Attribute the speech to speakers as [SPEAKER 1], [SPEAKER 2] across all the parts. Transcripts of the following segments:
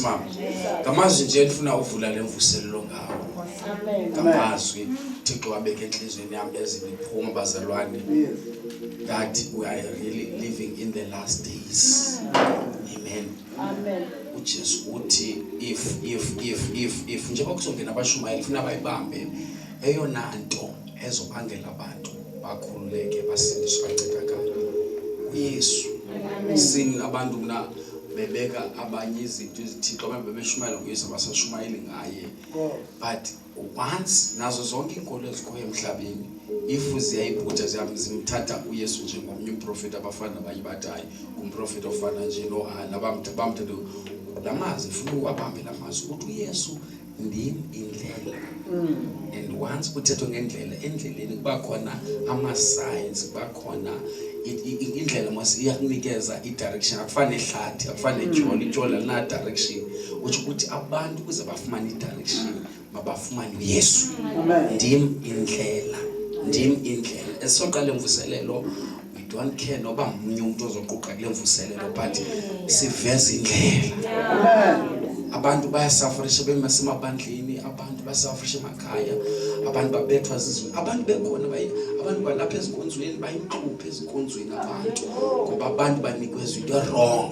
[SPEAKER 1] mama ngamazwi nje ndifuna uvula le mvuselelo ngawo ngamazwi thixo wabeka entliziyweni yam ezimiphuma bazalwane that we are really living in the last days amen
[SPEAKER 2] ujesu uthi
[SPEAKER 1] if if if if if njengoba kuzongena abashumayeli funa bayibambe eyona nto ezobangela abantu bakhululeke basindiswe bancedakala uyesu sini abantu mna bebeka abanye izinto ezithixo abantu bebeshumayela nguyesu abasashumayeli ngaye but once nazo zonke iinkolo ezikhoyo emhlabeni if ziyayibhuja zimthatha uyesu njengomnye umprofeti abafana abanye batayo ngumprofeti ofana nje nohana bamthatha la mazwi funa uwabambe la mazwi ukuthi uyesu ndim indlela mm. and once kuthethwa ngendlela endleleni kuba khona ama-signs kuba khona indlela mos iyakunikeza i-direction akufane hlathi akufane mm. joli ijoli alina-direction utsho ukuthi abantu ukuze bafumane i-direction mabafumane uyesu ndim indlela ndim indlela esisoqala emvuselelo we don't care noba mnye umntu ozoquqa kule mvuselelo but siveza indlela abantu bayasafarisha bemasemabandleni abantu basafarisha emakhaya abantu babethwa zizwe abantu bekhona abantu balapha ezinkonzweni bayinhluphe ezinkonzweni abantu ngoba abantu banikwezwa into wrong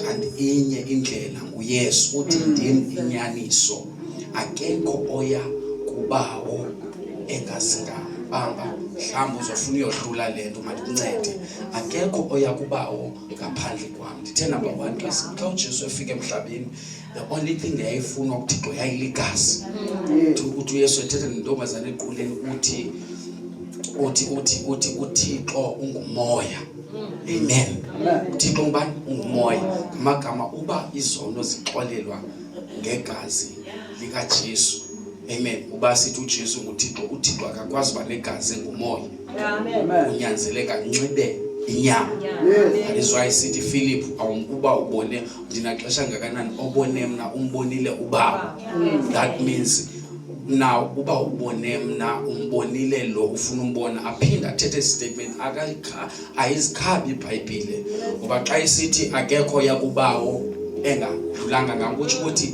[SPEAKER 1] kanti inye indlela nguyesu uthi ndim inyaniso akekho oya kubawo engazingabamba mhlawumbi uzofuna uyohlula le nto mandikuncede akekho oya kubawo ngaphandle kwam ndithe namba one xa xa ujesu efika emhlabeni the only thing yayifunwa kuthixo yayiligazi ukuthi uyesu ethethe nentombazane equleni uthi uthi uthi uthi uthixo ungumoya amen uthixo ngubani ungumoya ngamagama uba izono zixolelwa ngegazi likaJesu amen uba sithi uJesu nguThixo uThixo akakwazi uba negazi engumoya unyanzeleka nxibe inyama that is why sithi Philip awumkuba ubone ndinaxesha ngakanani obone mna umbonile ubaba that means na uba ubone mna umbonile lo ufuna umbona aphinde athethe statement akayikha ayizikhabi ibhayibhile ngoba xa isithi akekho yakubawo engadlulanga ngam kutsho ukuthi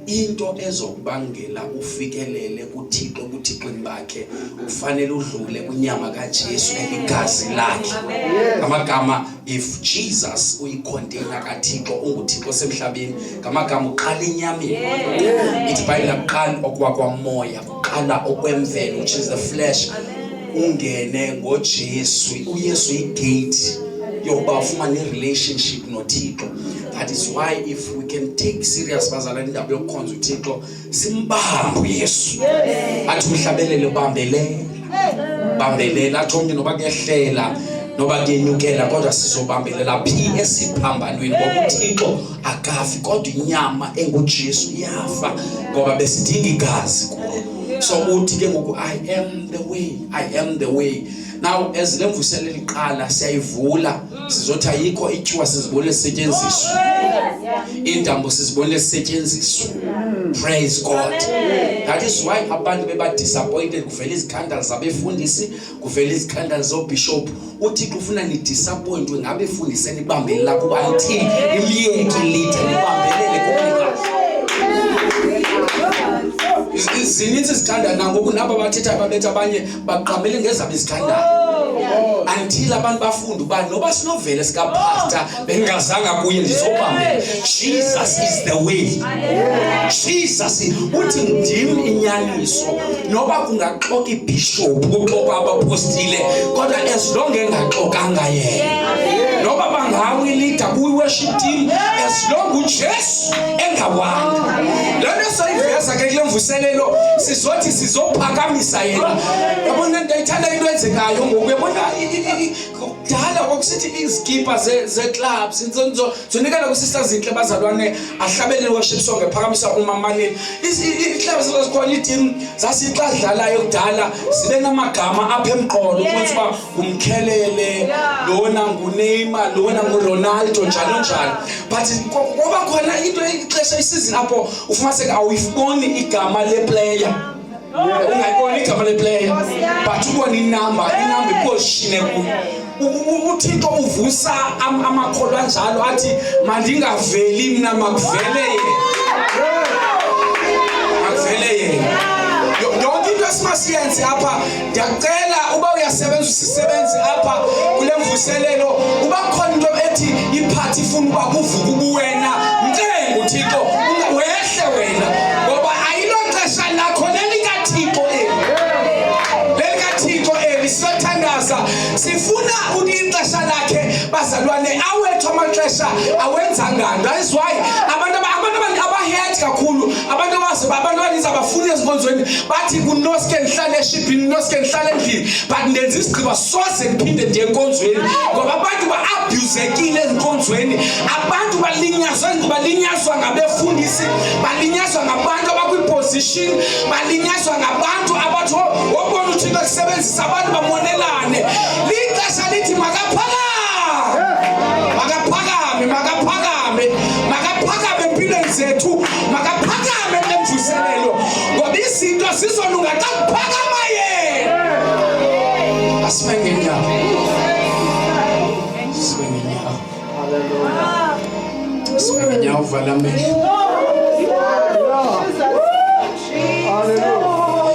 [SPEAKER 1] into ezokubangela ufikelele kuthixo ebuthixweni bakhe ufanele udlule kwinyama kajesu eligazi lakhe ngamagama if jesus uyikhonteyina kathixo unguthixo osemhlabeni ngamagama uqala enyameni ithi bhayibhile akuqali okwakwammoya qala okwemvelo which is the flesh ungene ngoJesu uYesu igate yokuba ufumane relationship noThixo that is why if we can take serious bazala indaba yokukhonza uThixo simbambe uYesu athi umhlabelele ubambelela bambelela athi omnye noba kuyehlela noba kuyenyukela kodwa sizobambelela phi esiphambanweni ngokuthixo akafi kodwa inyama enguJesu iyafa ngoba besidinga igazi kuye so uthi ke ngoku i am the way i am the way now as le mvuselo eliqala siyayivula sizothi ayikho ityuwa sizibone sisetyenziswa iintambo sizibone sisetyenziswa praise god that is why abantu bebadisappointed kuvela izikhandala zabefundisi kuvela izikhandali zoobhishophu uthixo ufuna nidisappointwe ngabe fundise nibambele lakho uba until imyeki lide nibambelele kunika zininzi izithandana nangoku nabo bathetha babetha abanye baqamele ngezabo izithandana until abantu bafunde uba noba sinovele sikapasta bengingazanga kuye ndizobambe jesus is the way jesus uthi ndim inyaniso noba kungaxoka ibhishophu kuxoka abapostile kodwa as long engaxokanga yena noba bangawilida kwi-worship team as long ujesu engawanga loo nto soyiveza ke kule mvuselelo sizothi sizophakamisa yena yabona ndayithanda into enzekayo ngoku yabona kudala kwakusithi izikipa ze-club zonikela kwisista zintle bazalwane ahlabele worship song ephakamisa umamalini ii-club zazikhona iitim zasixa zidlalayo kudala zibe namagama apha emqolo ukuthi uba ngumkhelele lona nguneyma lona nguronaldo njalo njalo but kwaba khona into ixesha isizini apho ufumaniseka awuyiboni igama leplayer ungayiboni igama leplayer but uba ninumber inumber iposhine kuyo uthixo uvusa amakholwa anjalo athi mandingaveli mna makuvele yena makuvele yena yonke into esimasiyenze apha ndiyacela uba uyasebenza usisebenzi apha kule mvuselelo uba khona into ethi iphathi ifuna uba kuvuka ubuwena mcenga uthixo wehle wena ngoba ayiloxesha lakho lelikathixo eli lelikathixo eli siyothandaza sifuna ixesha lakhe bazalwane awethu amaxesha awenzangani that's why abantu abazi abantu abaninzi abafuni ezinkonzweni bathi kunoske ndihlale eshibhini noske ndihlale endlini but ndenza isigqiba soze ndiphinde ndiye enkonzweni ngoba abantu ba-abhuzekile ezinkonzweni abantu balinyazwa balinyazwa ngabefundisi balinyazwa ngabantu abakwiposition balinyazwa ngabantu abathi wobona oh, uthixo kusebenzisa abantu bamonelane lixesha lithi makaphakame makaphakame makaphakame makaphakame empilweni zethu makaphakame emvuselelo ngoba izinto zizolunga xa kuphakama yena asibe ngenyawo sibe ngenyawo sibe ngenyawo uvala amehlo